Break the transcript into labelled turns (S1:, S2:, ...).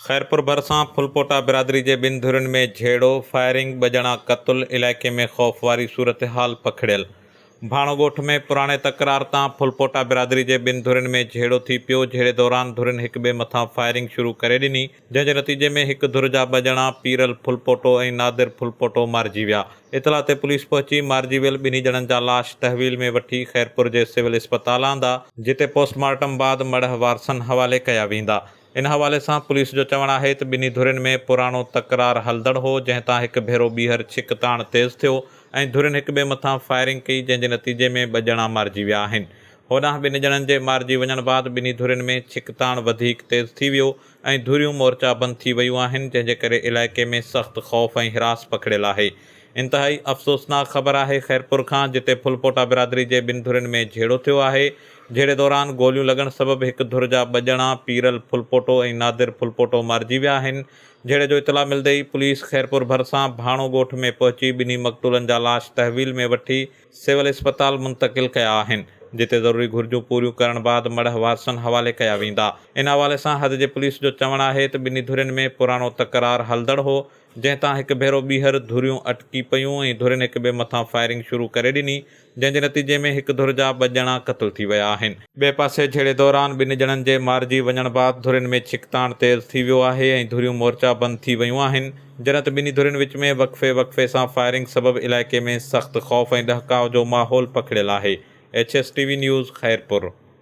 S1: خيرپور ڀرسان ڦلپوٽا برادري جي ٻن ڌرين ۾ جهيڙو، فائرنگ، ٻه ڄڻا قتل، علائقي ۾ خوف واري صورتحال پکڙيل. ڀاڻو ڳوٺ ۾ پراڻي تڪرار تان ڦلپوٽا برادري جي ٻن ڌرين ۾ جهيڙو ٿي پيو، جهيڙي دوران ڌرين هڪٻئي مٿان فائرنگ شروع ڪري ڏني، جنهن جي نتيجي ۾ هڪ ڌر جا ٻه ڄڻا پيرل ڦلپوٽو ۽ نادر ڦلپوٽو مارجي ويا، اطلاع تي پوليس پهچي مارجي ويل ٻنهي ڄڻن جا لاش تحويل ۾ وٺي خيرپور جي سول اسپتال آندا، جتي پوسٽ مارٽم بعد مڙهه وارثن حوالي ڪيا ويندا، ان حوالي سان پوليس جو چوڻ آهي ته ٻنهي ڌرين ۾ پراڻو تڪرار هلندڙ هو، جنهن تان هڪ ڀيرو ٻيهر ڇڪ تاڻ تيز ٿيو ۽ ڌرين هڪ ٻئي مٿان فائرنگ ڪئي، جنهن جي نتيجي ۾ ٻه ڄڻا مارجي ويا آهن. هوڏانهن ٻن ڄڻن جي مارجي وڃڻ بعد ٻنهي ڌرين ۾ ڇڪ تاڻ وڌيڪ تيز ٿي ويو ۽ ڌريون مورچا بند ٿي ويون آهن، جنهن جي ڪري علائقي ۾ سخت خوف ۽ حراس پکڙيل آهي. انتهائي افسوسناڪ خبر آهي خيرپور کان، جتي ڦلپوٽا برادري جي ٻن ڌرين ۾ جهيڙو ٿيو آهي. جهيڙي دوران گوليون لڳڻ سبب هڪ ڌر جا ٻه ڄڻا پيرل ڦلپوٽو ۽ نادر ڦلپوٽو مارجي ويا آهن. جهيڙي جو اطلاع ملندي ئي پوليس خيرپور ڀرسان ڀاڻو ڳوٺ ۾ پهچي ٻنهي مقتولن جا لاش تحويل ۾ وٺي سول اسپتال منتقل ڪيا آهن جتي ضروري گهرجون پوريون ڪرڻ بعد مڙهه وارثن حوالي ڪيا ويندا. ان حوالي سان حد جي پوليس جو چوڻ آهي ته ٻنهي ڌرين ۾ پراڻو تڪرار هلندڙ هو جنهن تان هڪ ڀيرو ٻيهر ڌريون اٽڪي پيون ۽ ڌرين هڪٻئي مٿان فائرنگ شروع ڪري ڏني جنهن جي نتيجي ۾ هڪ ڌر جا ٻه ڄڻا قتل ٿي ويا آهن. ٻئي پاسي جهيڙي دوران ٻن ڄڻن جي مارجي وڃڻ بعد ڌرين ۾ ڇڪتاڻ تيز ٿي ويو آهي ۽ ڌريون مورچا بند ٿي ويون آهن، جڏهن ته ٻنهي ڌرين وچ ۾ وقفي وقفي سان فائرنگ سبب علائقي ۾ سخت خوف ۽ ڏهڪاء جو ماحول پکڙيل آهي، H S T V news Khairpur.